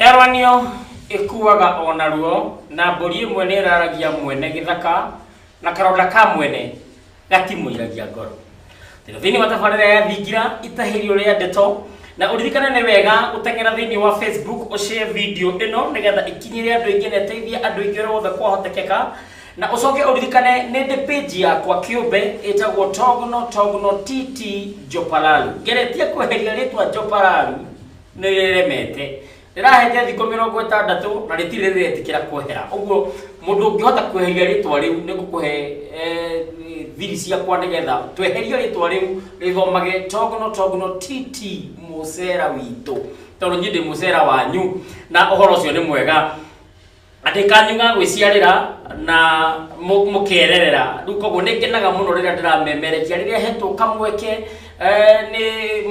Eranio ĩkuaga o naruo na mbũri ĩmwe nĩ ĩraragia mwene gĩthaka na karonda ka mwene gatimũiragia ngoro Tega thĩinĩ wa tabarĩra ya thingira itahĩrio rĩa ndeto na ũririkane nĩ wega gũteng'era thĩinĩ wa Facebook ũshare video ĩno nĩgetha ĩkinyĩre andũ aingĩ na ĩteithie andũ aingĩ ũrĩa wothe kwahotekeka na ũcoke ũririkane nĩ ndĩ page yakwa kĩũmbe ĩtagwo togno togno tt jopalalu ngeretie kweheria rĩtwa jopalalu nĩ rĩremete rĩrahete thikũ mĩrongo ĩtandatũ na rĩtirĩ rĩretĩkĩra kwehera ũguo mũndũ ũngĩhota kweheria rĩtwa rĩu nĩ ngũkũhe eh, thiri ciakwa nĩgetha tweherie rĩtwa rĩu rĩthomage togono togono tt mũcera witũ tondũ niĩ ndĩ mũcera wanyu na ũhoro ũcio nĩ mwega Atĩ kanyu ga gwĩciarĩra na mũ- mũkererera rĩu koguo nĩ ngenaga mũno rĩrĩa ndĩramemerekia rĩrĩa hetwo kamweke eh, nĩ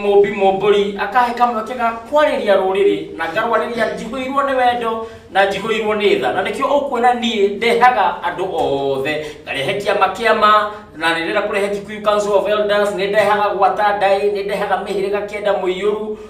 mũmbi mũmbũri akahe kamweke ga kwarĩria rũrĩrĩ na ngarwarĩria njihũirwo nĩ wendo na njihũirwo nĩ tha na nĩkĩo ũkuona niĩ ndehaga andũ othe ngarehe kĩama kĩama na nĩ ndĩrenda kũrehe Kikuyu Council of Elders nĩ ndehaga gwata ndaĩ nĩ ndehaga mĩhĩrĩga kenda mũiyũru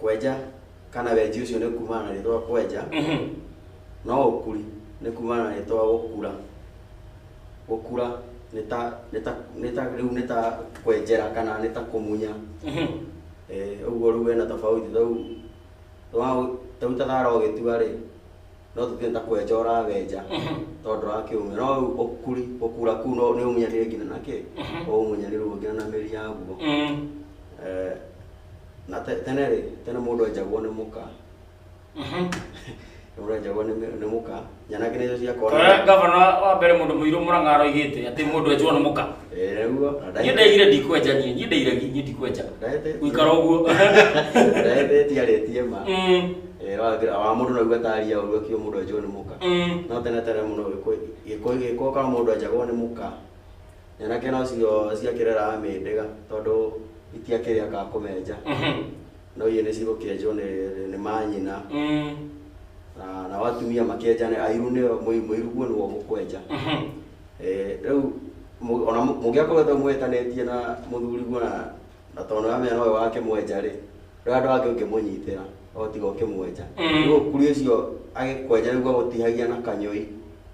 kwenja kana wenji ũcio nĩ kumana na rĩtwa kwenja no ũkuri nĩ kumana na rĩtwa gũkura gũkura nĩ ta nĩ ta nĩ ta rĩu nĩ ta kwenjera kana nĩ ta kũmunya Eh, ũguo rĩu hena tofauti rĩu Rĩu rĩu ta thara ũgĩtua rĩ no tũthiĩ ta kwenja ũrawenja tondũ ndũrakĩũmia no rĩu ũkuri ũkura kuu no nĩ ũmunyanire nginya na kĩ ũmunyanire ũguo nginya na mĩri yaguo Eh, na te- tene rĩ tene mũndũ enjagwo nĩ mũka Rũre njagwa nĩ mĩ- nĩ mũka nyanake nĩcio Tore ciakora gavana wa mbere mũndũ mũirũ mũrang'a aroigĩte atĩ mũndũ enjwo nĩ mũka ereguo niĩ ndaigire ndikwenja niĩ niĩ ndaire niĩ ndikwenja gũikara ũguo ndaete tiarĩtie ma Mm, Eh, wa- wa mũndũ naguo ataria ũru akiuga mũndũ enjwo nĩ mũka mm. no tene tene mũno gĩkũyũ ka mũndũ enjagwo nĩ mũka nyanake nocio ciakĩreraga mĩndĩga tondũ itiakĩrĩ aka kũmenja Mhm. No iye nĩcigũkĩenjwo nĩ nĩ manyina Mm. na nao atumia makĩenja nĩ airu nĩ mũiru guo nĩguo gũkwenja Mhm. Eh, rĩu mũ- ona mũ- mũngĩakorwo ta mwĩtanĩtie na mũthuri guo na na tondũ amenya nowe wake mwenja rĩ rĩu andũ angĩ ũngĩmũnyitĩra no tiga ũkĩmwenja Mm. rĩu ũkuri ũcio agĩkwenja nĩguo agũtihagia na kanyũi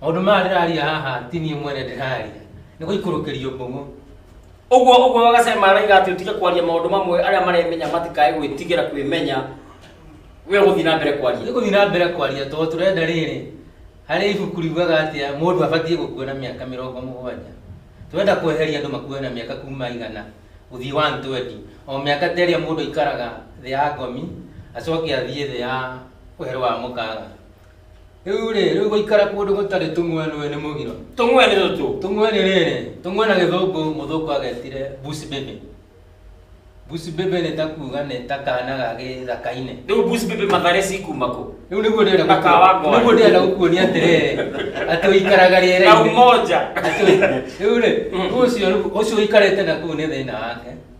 maundu maya ndiraria haha ti niĩ mwene ndiraria nĩ gũikũrũkĩrio mbũng'ũ ũguo ũguo wagacema araiga atĩ ũtige kwaria maũndũ mamwe arĩa maremenya matikae gwĩtigĩra kwĩmenya we gũthiĩ na mbere kwaria nĩ gũthiĩ na mbere kwaria tondũ tũrenda rĩrĩ harĩ ibuku riugaga atĩa mũndũ abatiĩ gũkua na mĩaka mĩrongo mũgwanja tũrenda kweheria andũ makue na mĩaka kuma igana gũthiĩ 120 o mĩaka ta ĩrĩa mũndũ aikaraga thĩ ya ngomi acoke athiĩ thĩ ya ũhero wa mũkaga Rĩu rĩ, rĩu gũikara kũndũ gũtarĩ tũmwe nĩ nĩ mũgiro. Tũmwe nĩ tũtũ. Tũmwe nĩ rĩrĩ, tũmwe na gĩthũngũ mũthũngũ agetire bush baby. Bush baby nĩ ta kuuga nĩ ta kana ga gĩthaka-inĩ. Rĩu bush baby mathare cikuma kũ? Rĩu nĩguo ndĩrenda Na ka wa ngoa. nĩguo ndĩrenda gũkuonia atĩrĩrĩ atĩ ũikaraga Na rĩera-inĩ. umoja. Atĩ- Rĩu rĩ, ũcio ũcio ũikarĩte na kũu nĩ thĩna wake.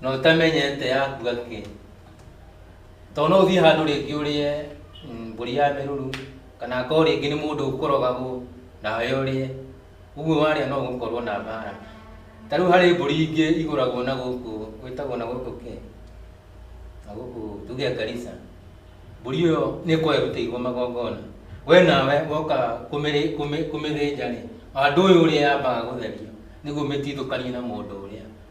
na ũtamenyete yakuga kĩ tondũ no ũthiĩ handũ rĩngĩ ũrĩe mm, mbũri ya mĩruru kana akorwo rĩngĩ nĩ mũndũ ũkũrogagwo nawe ũrĩe ũguo warĩa no ũgũkorwo na mbara ta rĩu harĩ mbũri ingĩ igũragwo na gũkũ gwĩtagwo na gũkũ kĩ na gũkũ tuge karisa mbũri ĩyo nĩ ĩkorwo ĩrutĩirwo magongona we nawe woka kũmĩrĩ- kũmĩ- kũmĩthĩnja rĩ andũ ũyũ ũrĩa yambaga gũtherio nĩguo mĩtithũkanie na mũndũ ũrĩa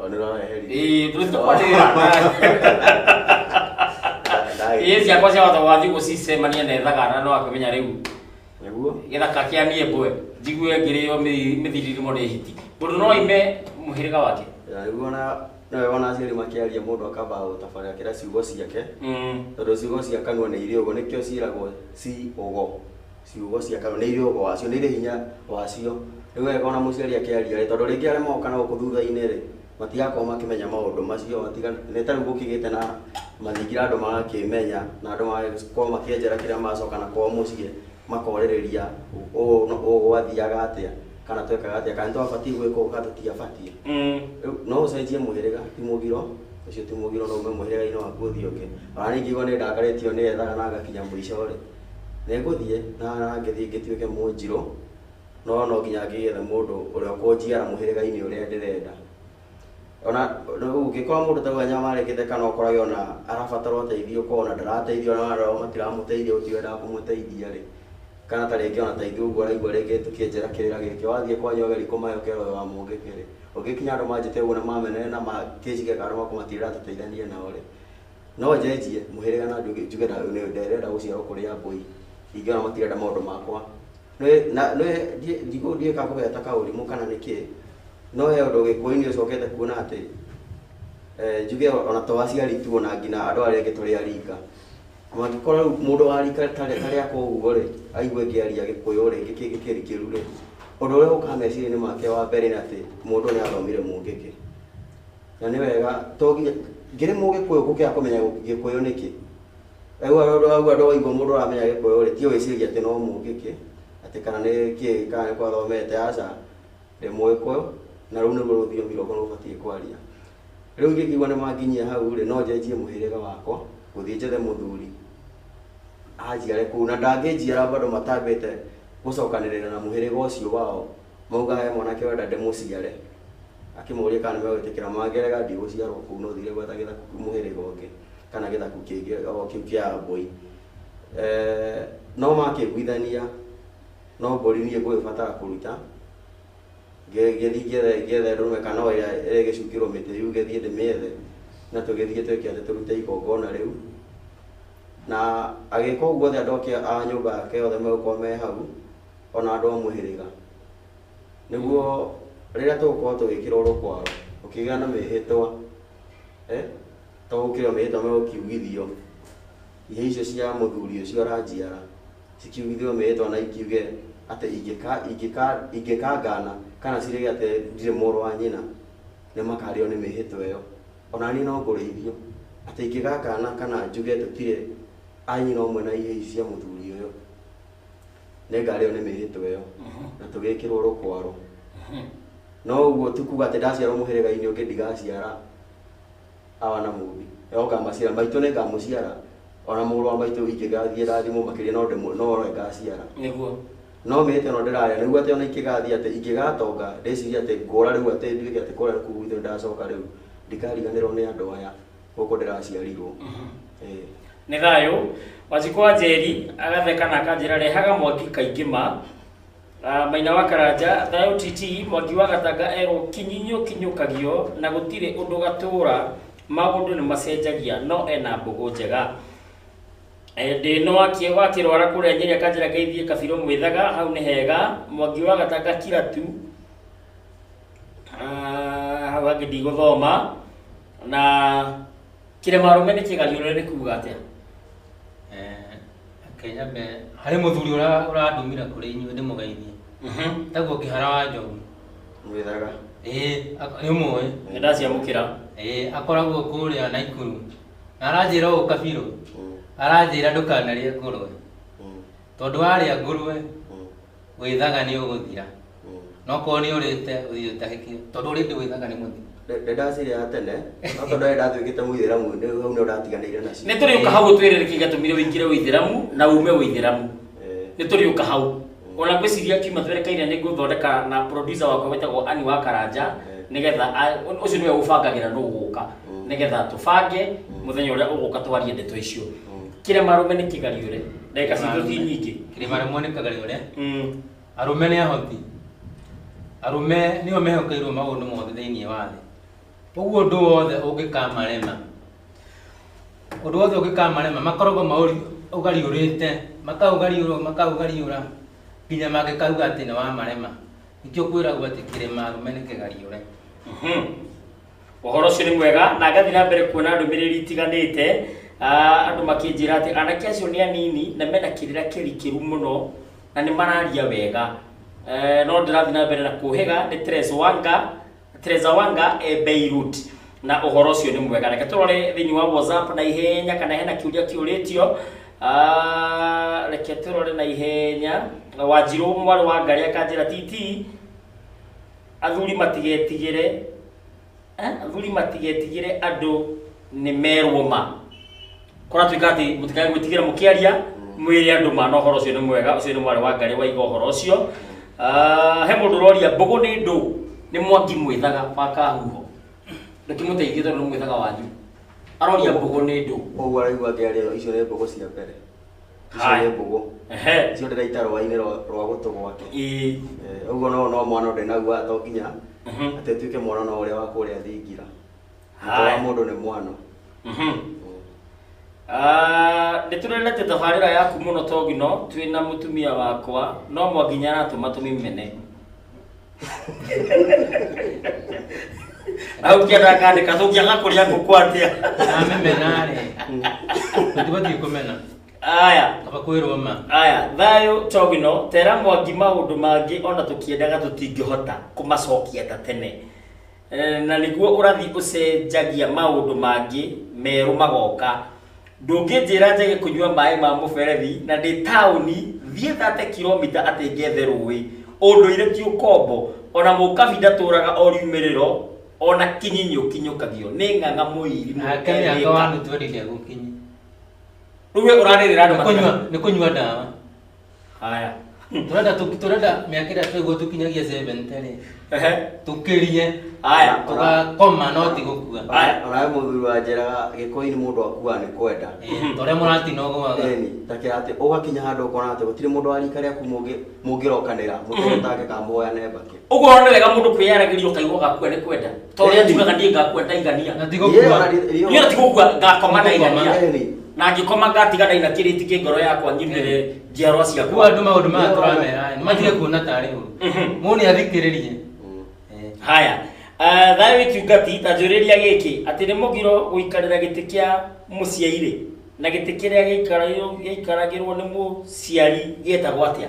Oh, nä rona heri Ĩĩ, tũrĩ tũkwanĩrĩra ĩĩ ciakwa cia wata wathiĩ gũcicemania na ĩthagana no akĩmenya rĩu nä guo gĩthaka kĩa niĩ mbwe njigue ngĩrĩo mĩthi- mĩthiririmo nĩ hiti mũndũ no ime mũhĩrĩga wake rä u ona nawe wona aciari makä aria må ndå akamba gå tabarä kä ra ciugo ciake Mm. tondå ciugo cia kanua nä irä å gå nä kä o ciäragwo ci å go ciugo cia kanua nĩ irĩ ũgo wacio nĩ irĩ hinya wacio nĩ wega ona mũciari akĩaria rĩ tondũ rĩngĩ arĩa magoka na gũkũ thutha-inĩ rĩ matigakorwo makĩmenya maũndũ macio matigana nĩ ta rĩu gũkĩgĩte na mathingira andũ magakĩmenya na andũ magakorwo makĩenjera kĩrĩa macoka na kwao mũciĩ makorĩrĩria ũũ na ũũ gwathiaga atĩa kana twekaga atĩa kana nĩ twabatiĩ gwĩka ũũ kana tũtiabatiĩ Mm. Rĩu no ũcenjie mũhĩrĩga ti mũgiro ũcio ti mũgiro no ume mũhĩrĩga-inĩ waku ũthiĩ ũngĩ ona ningĩ igwa nĩ ndakarĩtio nĩ ethaga na ngakinya mũico rĩ Nĩngũthiĩ na ngĩthiĩ ngĩtuĩke Mũnjirũ, no no nginya ngĩgĩethe mũndũ ũrĩa ũkũnjiara mũhĩrĩga-inĩ ũrĩa ndĩrenda. Ona rĩu ũngĩkora mũndũ ta rĩu anyamarĩkĩte kana ũkorage ona arabatara ũteithio ũkona ona ndarateithio ona arĩa matiramũteithia gũtirĩ wendaga kũmũteithia-rĩ, kana ta rĩngĩ ona ta ithuĩ ũguo ũraigua rĩngĩ tũkĩenjera kĩrĩra gĩkĩ, wathiĩ kwanyu ageria kũmahe ũkera ũyũ wa mũngĩkĩ-rĩ, ũngĩkinya andũ manjĩte ũguo na mamenerena na kĩnjige kando makũmatigĩrĩra tũteithanie nao-rĩ. No njenjie mũhĩrĩga na njuge njuge na nĩ- ndĩrenda gũciarwo kũrĩ ambũi ingĩona matirenda maũndũ makwa Nĩ- na- nĩ- ndiĩ- ndigũ- ndiũĩ kana kũgĩa ta kaũrimũ kana nĩ kĩĩ no he ũndũ gĩkũyũ-inĩ ũcokete kuona atĩ eh, njuge ona to aciari tu ona nginya andũ arĩa angĩ tũrĩ arika mangĩkorwo rĩu mũndũ wa rika tarĩ tarĩa koguo rĩ aigue ngĩaria gĩkũyũ rĩ gĩkĩ gĩkĩri kĩru rĩ ũndũ ũrĩa ũkaga meciria-inĩ make wa mbere nĩ atĩ mũndũ nĩ athomire mũngĩkĩ Na nĩ wega to nginya ngĩrĩ mũgĩkũyũ gũkĩra kũmenya gĩkũyũ nĩkĩ rĩu andũ au andũ waigua mũndũ ũramenya gĩkũyũ rĩ ti ũĩciria atĩ no mũngĩkĩ atĩ kana nĩ kĩĩ kana nĩ kwathomete aca ndĩ mũgĩkũyũ na rũu nĩruo rũthiomi rwakwa rũbatiĩ kwaria rĩu ingĩkĩigua nĩ manginyia hau rĩ no njenjie mũhĩrĩga wakwa gũthiĩ njethe mũthuri anjiare kũu na ndangĩnjiara bado matambĩte gũcokanĩrĩra na mũhĩrĩga ũcio wao. Mauga he mwanake ũrenda ndĩmũciare. Akĩmoria kana nĩmegwĩtĩkĩra ma Ngerega ndigũciarwo kũu no thiire gwetha gĩthaku kũu mũhĩrĩga ũngĩ kana gĩthaku kĩngĩ o kĩu kĩa Ambũi. No makĩiguithania no mbũri niĩ ngũgĩbatara kũruta ngĩthiĩ ngĩethe ndũrũme kana o ĩrĩa ĩrĩgĩcukĩrwo mĩtĩ yuge thiĩ ndĩmĩethe na tũgĩthiĩ twĩke atĩ tũrute igongona rĩu. Na agĩĩka ũguo othe andũ a nyũmba yake othe magĩkorwo me hau ona andũ a mũhĩrĩga, nĩguo rĩrĩa tũgũkorwo tũgĩkĩra ũrũ kwao, gũkĩgĩa na mĩhĩtwa, to gũkĩrĩ o mĩhĩtwa megũkiugithio, hĩa icio cia mũthuri ũcio ũranjiara, cikiugithio mĩhĩtwa na ikiuge atĩ ingĩka ingĩka ingĩkangana kana cirĩge atĩ ndirĩ mũrũ wa nyina, nĩ makarĩo nĩ mĩhĩtwa ĩyo. Ona niĩ no ngũrĩithio, atĩ ingĩgakana kana njuge tũtirĩ a nyina ũmwe na hĩa ici cia mũthuri ũyũ. nĩ ngarĩo nĩ mĩhĩtwa ĩyo na tũgĩkĩrwo rũkwaro no ũguo ti kuga atĩ ndaciarwo mũhĩrĩga-inĩ ũngĩ ndigaciara awa na mũmbi no ngamaciara maitũ nĩ ngamũciara ona mũrũ wa maitũ ingĩgathiĩ rathimwo makĩria no ndĩmũ- no we ngaciara nĩguo no mĩhĩtwa ĩno ndĩrarĩa nĩguo atĩ ona ingĩgathiĩ atĩ ingĩgatonga ndĩcirie atĩ ngũra rĩu atĩ nduĩke atĩ kũrĩa kũu gwitũ nĩ ndacoka rĩu ndikariganĩrwo nĩ andũ aya gũkũ ndĩraciarirwo Eh, nĩ thayũ wanjikũ wa njeri agatheka na akanjĩra rehaga mwangi kaingĩ ma Ah, maina wa karanja thayũ titi mwangi wa gatanga erwo kinyinyũkinyũkagio na gũtirĩ ũndũ gatũũra maũndũ nĩ macenjagia no ena mbũgũ njega Eh, ndĩ no akie wakĩrwara kũrĩa nyeri akanjĩra ngeithie kabirũ mwĩthaga hau nĩ hega mwangi wa gatanga kira tu Ah, hau hangĩ ndigũthoma na kĩrĩma rũme nĩ kĩgariũre nĩ kuga atĩa Eh, reke nyambe harĩ mũthuri ũra- ũrandũmire kũrĩ inyuĩ ndĩmũgeithie Mhm. taguo kĩhara wa njogu Mwĩthara. ĩĩ ak- nĩũmũĩ nĩ ndaciamũkĩra ĩĩ akoragwo kũrĩa naikuru na aranjĩra ũũ kabirũ Mm, aranjĩra ndũkanarĩe ngũrwe mm, tondũ warĩa ngũrwe mm. wĩthaga nĩ ũgũthira na okorwo nĩ ũrĩte ũthiĩ ũtahĩkio tondũ ũrĩndĩ wĩthaga nĩ mũthira nĩ ndacirĩ ya tene no tondũ nĩ ndatuĩkĩte mũithĩramu nĩ- hau nĩ ndatiganĩire nacio nĩ tũrĩũka hau ũtwĩrĩre kĩ gatũmire ũingĩre ũithĩramu na ume ũithĩramu Eh, nĩ tũrĩũka hau ona ngwĩciria kiuma twerekeire nĩ ngũthondeka na producer wakwa wĩtagwo ani wa karanja nĩgetha a- ũ- ũcio nĩwe ũbangagĩra nũ ũgũka nĩgetha tũbange mũthenya ũrĩa ũgũka twarie ndeto icio kĩrĩa marũme nĩ kĩgariũre ndagĩka citũ ti nyingĩ kĩrĩa marũme nĩ kĩgariũre arũme nĩ ahoti arũme nĩo mehokeirwo maũndũ mothe thĩinĩ wa thĩ ũguo ũndũ wothe ũngĩkamarema ũndũ wothe ũngĩkamarema makoragwo maũgariũrĩte makaũgariũra makaũgariũra nginya mangĩkauga atĩ nĩ wamarema nĩkĩo kwĩragwo atĩ kĩrĩma arũme nĩ kĩgariũre Ũhoro ũcio nĩ mwega, na ngathiĩ na mbere kuona ndũmĩrĩri itiganĩte, ah, andũ makĩnjĩra atĩ anake acio nĩ anini na mena kĩrĩra kĩrikĩru mũno na nĩ mararia wega. Eh, no ndĩrathiĩ na mbere na kũhĩga nĩ Teresa Wanga, Teresa Wanga e Beirut na ũhoro ũcio nĩ mwega. Reke tũrore thĩinĩ wa WhatsApp na ihenya kana hena kĩũria kĩũrĩtio. Ah, reke tũrore na ihenya. Wanjirũ mwarĩ wa Ngarĩ akanjĩra TT, Athuri matigetigĩre eh, athuri matigetigĩre andũ nĩ merwo ma kũratuĩka atĩ mũtikae gwĩtigĩra mũkĩaria mwĩre andũ ma na ũhoro ũcio nĩ mwega ũcio nĩ mwarĩ wa ngarĩ waiga ũhoro ũcio Ah, he mũndũ ũroria mbũgũ nĩ ndũ nĩ mwangi mwĩthaga wa kahuho ndũkĩmũteithie tondũ nĩ mwĩthaga wanyu aroria mbũgũ nĩ ndũ Ũguo araigua ngĩaria icio nĩ mbũgũ cia mbere. icio Hai. nĩ mbũgũ ehe icio ndĩraita rũa-inĩ rwa- rwa gũtũ gwake ĩĩ Eh, ũguo no no mwana ũndĩ naguo haha to nginya Mhm. atĩ ũtuĩke mwana no ũrĩa wa kũrĩa thingira Mũtwe wa Hai. mũndũ nĩ mwana Mhm. Ah, nĩ tũrendete tabarĩra yaku mũno togino twĩna mũtumia wakwa no mwanginya aratũma tũmĩmene nawe ukienda akandika so ukianga kuria ngũkũ atia na mĩmena rĩ tũtiba twikũmena aya kaba kwĩrwo ma aya thayũ togino tera mwangi maũndũ mangĩ ona tũkĩendaga tũtingĩhota kũmacokia ta tene Eh, na nĩguo ũrathi ũcenjagia maũndũ mangĩ merũ magoka ndũngĩnjĩra njage kũnyua maĩ ma mũberethi na ndĩ taũni thiĩ thate kilomita atĩ ngethe rũĩ ũndũire ti ũkombo ona mũkabi ndatũraga o riumĩrĩro ona kinyinyi ũkinyũkagio nĩ ng'ang'a mũiri mũkethĩka rĩu we ũrarĩrĩra andũ nĩ kũnyua ndawa Haya. Turenda tu- turenda miaka ĩrĩa twĩguo tũkinyagia 70 rĩ Ehe. tũkĩrie Haya. tũgakoma no ti gũkua Haya. Onawe mũthuri wa njeraga gĩkũyũ-inĩ mũndũ akuaga nĩ kwenda. Eh, ta ũrĩa mũratina ũgũaga Eni, ta kĩra atĩ ũgakinya handũ ũkona atĩ gũtirĩ mũndũ wa rika rĩaku mũngĩ- mũngĩrokanĩra mũtegũtangĩka mũhoyane mbakĩ. Ũguo ũrona nĩ wega mũndũ kwĩyaragĩria ũkaigua gakua nĩ kwenda. Tondũ rĩrĩa njugaga ndiĩ ngakua ndaigania. Na tigo Ndiye kuwa. ona rĩ- rĩo- Niĩ tigũkua ngakoma ndaigania. Ngakoma, eh. Na ngĩkoma ngatiga ndaina kĩrĩti kĩ ngoro yakwa ngirĩrĩre njiarwa Kuwa ciakwa. andũ maũndũ maya tũramera nĩ matige kuona tarĩ ũru. Mhm. Mũndũ nĩ athikĩrĩrie. Eh. Haya. Ah, Thayũ wĩkiungati ta njũrĩria gĩkĩ atĩ nĩ mũgiro gũikarĩra gĩtĩ kĩa mũciairĩ na gĩtĩ kĩrĩa gĩikaragĩrwo- gĩikaragĩrwo nĩ mũciari gĩtagwo atĩa?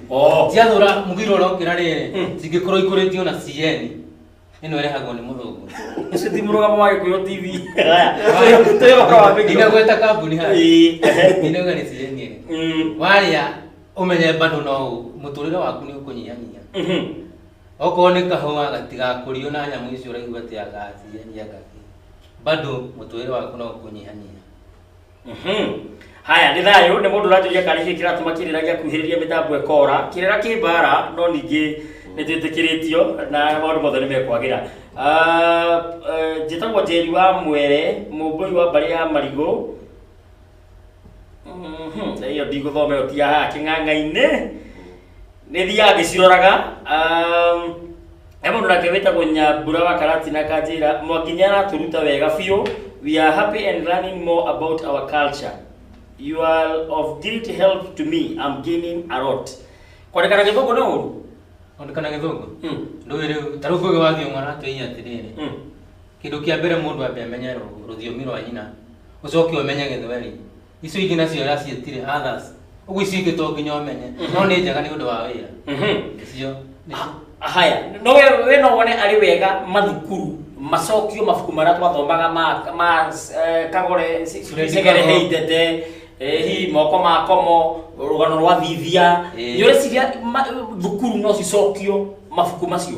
Oh. ciathũra mũgiro ũrĩa ũngĩ na rĩrĩ Mm. cingĩkorwo ikũrĩtio na cn ĩno ĩrehagwo nĩ mũthũngũ Ũcio ti mũrũgamo wa Gĩkũyũ TV. Haya. Tũyũ ũhoro wa mĩgiro. inagweta kambuni ha Ĩĩ, ehe. inauga nĩ cn ĩrĩ Mm, warĩa ũmenye bado no mũtũrĩre waku nĩ ũkũnyihanyiha mhm. okorwo nĩ kahũa gatigakũrio na nyamũ icio ũraigua atĩ agaciyenia ngakĩ bado mũtũrĩre waku no ũkũnyihanyiha Mhm. haya nĩ thayũ nĩ mũndũ ũranjũria kana gĩkĩ kĩratũma kĩrĩra gĩakuhĩrĩria mĩtambo ĩkora kĩrĩra kĩ mbara no ningĩ nĩ twĩtĩkĩrĩtio na maũndũ mothe nĩ mekwagĩra Ah, eh, njĩtagwo njeri wa mwere mũmbũi wa mbarĩ ya marigũ Mhm, ĩyo ndigũthoma ĩyo ti ya haha kĩng'ang'a-inĩ nä thiä agä ciroraga he må ndå nake wä tagwo nyambura wa karatina kanjä ra mwangi nä aratå ruta wega biå we are happy and learning more about our culture you are of great help to me I'm gaining a lot kwandäkana gä thå ngå nä å ru Ondekana githungu. Mm, Ndũĩ rĩu ta rĩu kũgĩ wathiĩ ng'ona tũinya atĩrĩrĩ. mm. Kĩndũ kĩa mbere mũndũ ambe amenye rũ- rũthiomi rwa nyina. Ũcoke ũmenye gĩthweri. icio ingĩ nacio yaciĩtire others ũguo icio ingĩ to nginya ũmenye no nĩ njega nĩ ũndũ wa wĩra Mhm. icio nĩcio Ha- haya no we we no wone arĩ wega mathukuru macokio mabuku marĩa twathomaga ma ma eh, kagore si- si- Fred segere Kago. heitete eh, hihi moko ma komo rũgano rwa thithia Eh. nĩ ũreciria ma- thukuru no cicokio mabuku macio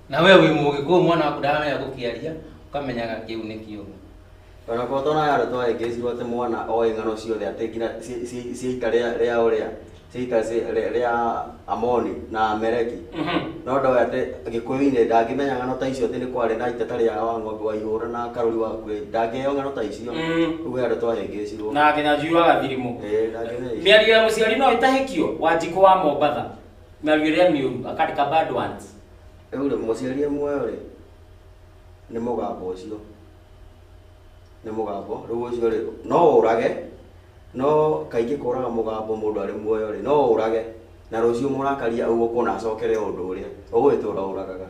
na we wĩ mũgĩ kũu mwana waku ndaramenya gũkĩaria ũkamenyaga kĩu nĩ kĩũgĩ ona kwa tona yaro twa engage wote mwana o ingano ciothe ate ngina ciika ria ria uria ciika ria amoni na amereki no ndo ate gikuyu ine ndangimenya ngano ta icio ati ni kwari na iteta ria wa ng'ombe wa ihura na karuri wa kure ndangeo ngano ta icio ugu yaro twa engage ro na nginya njui wa gathirimu miario ya muciari no itahikio wa njiko wa mombatha Na you hear me uru, akandika bad ones. Rĩu rĩ mũciari e muoyo rĩ nĩ mũgambo ũcio nĩ mũgambo rĩu ũcio rĩ no ũrage no kaingĩ kũraga mũgambo mũndũ arĩ muoyo rĩ no ũrage na rũciũ mũrakaria ũgũkũ na acokere ũndũ ũrĩa ũgũgĩtũra ũragaga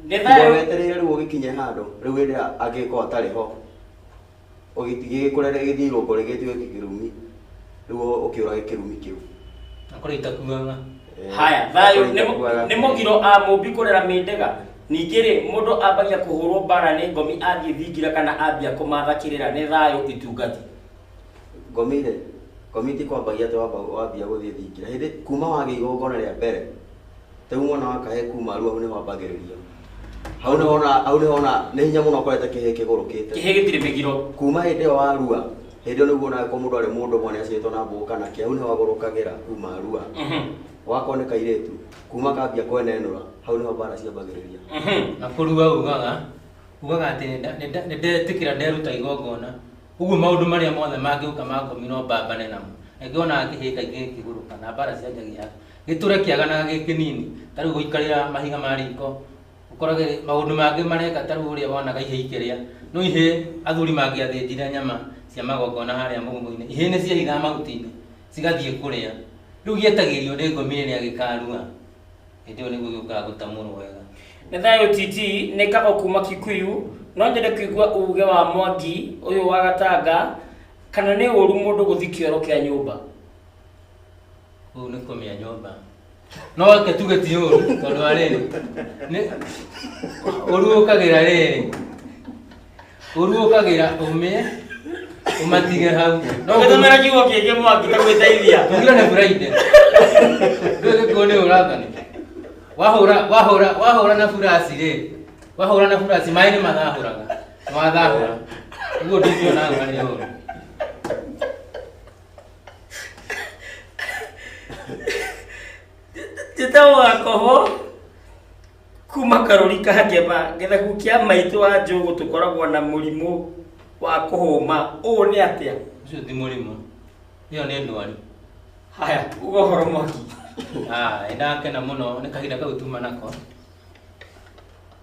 Nĩ thayũ. weterere rĩu ũgĩkinye handũ rĩu hĩndĩ ĩrĩa angĩkorwo atarĩ ho ũgĩtigĩgĩkũrere gĩthiĩ irũngo rĩgĩtuĩke kĩrumi rĩu ũkĩũrage kĩrumi kĩu akorwo itakuaga Eh, haya thayũ akorwo nĩ- itakuaga. nĩ mũgiro a mũmbi kũrera mĩndega ningĩ rĩ mũndũ ambagia kũhũrwo mbara nĩ ngomi athiĩ thingira kana ambia kũmatha kĩrĩra nĩ thayũ itungati ngomire ngomiti kwambagia atĩ wamba wambia gũthiĩ thingira hĩndĩ kuma wagĩa igongona rĩa mbere Rĩu mwana wa kahĩĩ kuma aru hau nĩho ambagĩrĩria. Hau nĩho ona hau nĩho ona nĩ hinya mũno ũkorete kĩhĩĩ kĩgũrũkĩte. Kĩhĩĩ gĩtirĩ mĩgiro. Kuma hĩndĩ ĩyo warua hĩndĩ ĩyo nĩguo onaga korwo mũndũ arĩ mũndũ ũmwe nĩ aciarĩtwo na mbũgũ kana kĩ hau nĩho agũrũkagĩra kuma arua. Wakorwo nĩ kairĩtu kuma kambia kwenenũra hau nĩho mbara ciambagĩrĩria. Na kũrua ugaga ugaga atĩ nĩ ndetĩkĩra nderuta igongona. Ũguo maũndũ marĩa mothe mangĩũka ma ngomi no mbambane namo. Na nĩkĩo wonaga kĩhĩĩ kaingĩ gĩkĩgũrũka na mbara cianjagia hau. Nĩ tũrekiaganaga gĩ kĩnini, ta rĩu gũikarĩra mahiga ma riko, ũkorage maũndũ mangĩ mareka ta rĩu ũrĩa wonaga ihĩĩ ikĩrĩa. No ihĩĩ athuri mangĩathĩnjire nyama cia magongona harĩa mũgũnda-inĩ, ihĩĩ nĩ ciehithaga mahuti-inĩ cigathiĩ kũrĩa. Rĩu gĩetagĩrio nĩ ngomi rĩrĩa gĩkarua, hĩndĩ ĩyo nĩguo gĩũkaga gũtamũrwo wega. Nĩ thayũ TT, nĩ kago kuma Kikuyu, no nyende kũigua uge wa Mwangi ũyũ wa Gatanga, kana nĩ ũru mũndũ gũthi kĩoro kĩa nyũmba? Kũu nĩ kũmĩa nyũmba. No reke tuge ti ũru tondũ wa rĩrĩ. Nĩ- Ũru ũkagĩra rĩrĩ. Ũru ũkagĩra ũmĩe ũmatige hau. No gũtũmĩra kiugo kĩngĩ mwaki ta gwĩteithia. Tugira nĩ buraide. Ndũĩ gĩkuũ nĩ ũrathani. Wahũra wahũra wahũra na burasi rĩ. Wahũra na burasi maĩ nĩ mathahũraga. Nĩ wathahũra. Ũguo ndingĩona ngari ũru. njĩtagwo gakoho kuma karũri ka ngema gĩthaku kĩa maitũ wa njũgũ tũkoragwo na mũrimũ wa kũhũma ũũ nĩ atĩa Ũcio ti mũrimũ. Ĩyo nĩ ndwari. haya uga ũhoro mwaki Ah, nĩndakena mũno nĩ kahinda kau tuma nako.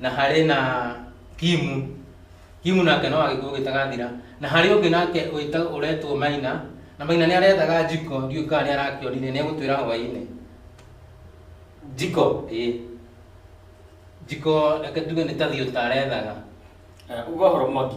Na harĩ na Kimu, Kimu nake no agĩkũyũ gĩtagathira. Na harĩ ũngĩ nake wĩtagwo ũretwo Maina, na Maina nĩ arethaga Njiko, ndiũĩ kana nĩ arakĩonire, nĩ egũtwĩra hwaĩ-inĩ. Njiko, ĩĩ. Njiko reke tuge nĩ ta thiũta arethaga. Uga ũhoro Mwangi.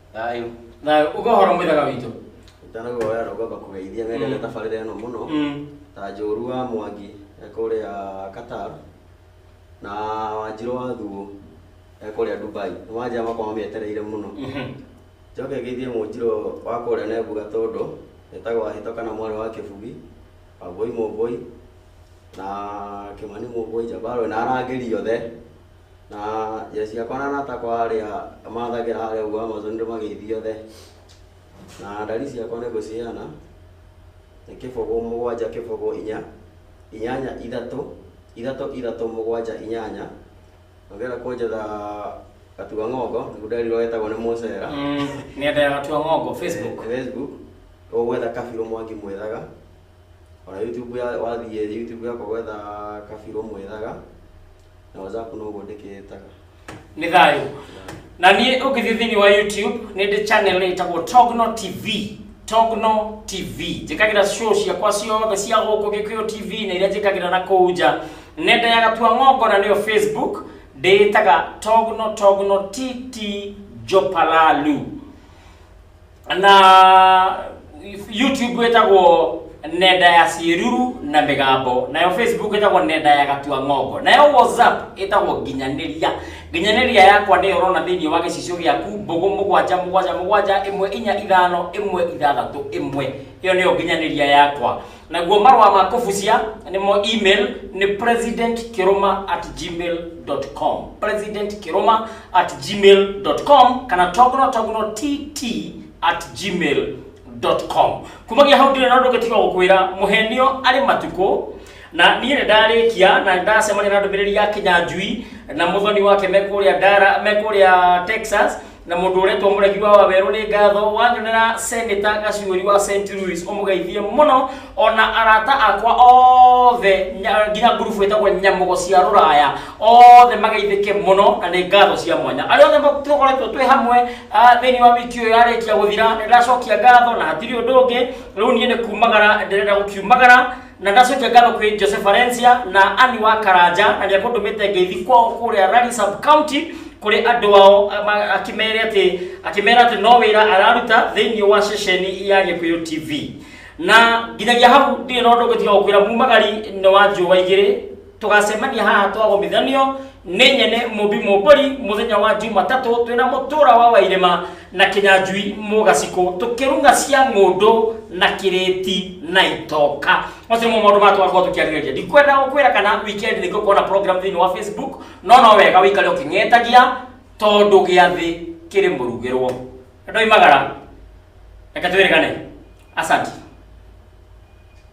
Thayũ. Thayũ. Uga ũhoro mũthaka witũ. Ndanagoya na ngwamba kũgeithia wendete Mm. tabarĩra ĩno mũno Mm. ta njũru wa mwangi e kũrĩa Qatar na wanjirũ wa thuo e kũrĩa Dubai nĩ wanjia makwa mamĩetereire mũno Mhm. njoke ngeithie mũnjirũ wa kũrĩa Nebuga tondũ etagwo Ahito kana mwarĩ wa Kĩbugi Wambũi Mũmbũi na Kĩmani Mũmbũi Njabarwe na arangĩri othe Na njĩra ciakwa na arata akwa arĩa mathagĩra harĩa ũguo Amazon nĩndĩmageithia othe. Na ndari ciakwa nĩngũciheana, nĩ kĩbũgũ mũgwanja kĩbũgũ inya, inyanya ithatũ, ithatũ ithatũ mũgwanja inyanya, na ũngĩenda kũnjetha Gatua Ng'ongo, nĩguo nderirwo getagwo nĩ Mũcera. Nenda ya Gatua Ng'ongo Facebook. Facebook, ũgwetha Kabiru Mwangi Mwĩthaga. ona YouTube ya wathiĩ YouTube yakwa gwetha kabirũ mwĩthaga na WhatsApp no ũguo ndĩkĩtaga nĩ thayũ na niĩ ũngĩthiĩ thĩinĩ wa youtube nĩ ndĩ channel ĩtagwo togno tv togno tv njĩkagĩra show ciakwa ciothe cia gũkũ gĩkũyũ tv na iria njĩkagĩra na kũu nja nenda ya gatua ng'ongo na nĩyo facebook ndĩĩtaga togno togno tt jopalalu na youtube ĩtagwo nenda ya ciĩruru na mĩgambo nayo facebook ĩtagwo nenda ya gatua ng'ongo nayo whatsapp ĩtagwo nginyanĩria nginyanĩria yakwa nĩyo ũrona thĩinĩ wa gĩcicio gĩaku mbũgũ mũgwanja mũgwanja mũgwanja ĩmwe inya ithano ĩmwe ithathatũ ĩmwe ĩyo nĩyo nginyanĩria yakwa naguo marũa ma kũbucia nĩmo email nĩ president kiruma at gmail com president kiruma at gmail com kana togno togno tt at gmail com kumagia hau ndĩrĩ na ũndũ ũngĩtiga gũkwĩra mũhenio arĩ matukũ na niĩ nĩ ndarĩkia na ndacemania na ndũmĩrĩri ya kinyanjui na mũthoni wake me kũrĩa ndara me kũrĩa texas na mũndũ ũretwo mũregi wa wawerũ nĩ ngatho wanyonera seneta gaciũri wa st louis ũmũgeithie mũno ona arata akwa othe nya- nginya ngurubu ĩtagwo nyamũgo cia rũraya othe mageithĩke mũno na nĩ ngatho cia mwanya arĩa othe ma- tũkoretwo twĩ hamwe ah, thĩinĩ wa wiki ũyũ yarĩkia gũthira nĩ ndacokia ngatho na hatirĩ ũndũ ũngĩ rĩu niĩ nĩ kumagara ndĩrenda gũkiumagara na ndacũkia ngatho kwĩ jose valencia na ani wa karanja na nĩ akũndũmĩte ngeithi kwao kũrĩa rari sub county kũrĩ andũ ao ama- akĩmere atĩ akĩmera atĩ no wĩra araruta thĩinĩ wa ceceni ya gĩkũyũ tv na nginyagia hau ndirĩ na ũndũ ngũtiga gũkwĩra mumagari nĩ wa njũa igĩrĩ tũgacemania haha twagomithanio nĩ nyene mũmbi mũmbũri mũthenya wa jumatatũ twĩna mũtũra wa wairĩma na kĩnyanjui mũgacikũ tũkĩruga cia ng'ũndũ na kĩrĩti na itoka macio nĩmo maũndũ maya twakorwo tũkĩarĩrĩria ndikwenda gũkwĩra kana weekend nĩ ngũkorwo na program thĩinĩ wa facebook no no wega wĩikare ũkĩng'etagia tondũ gĩathĩ kĩrĩ mũrugĩrwo ndoimagara reke twĩrĩgane asanti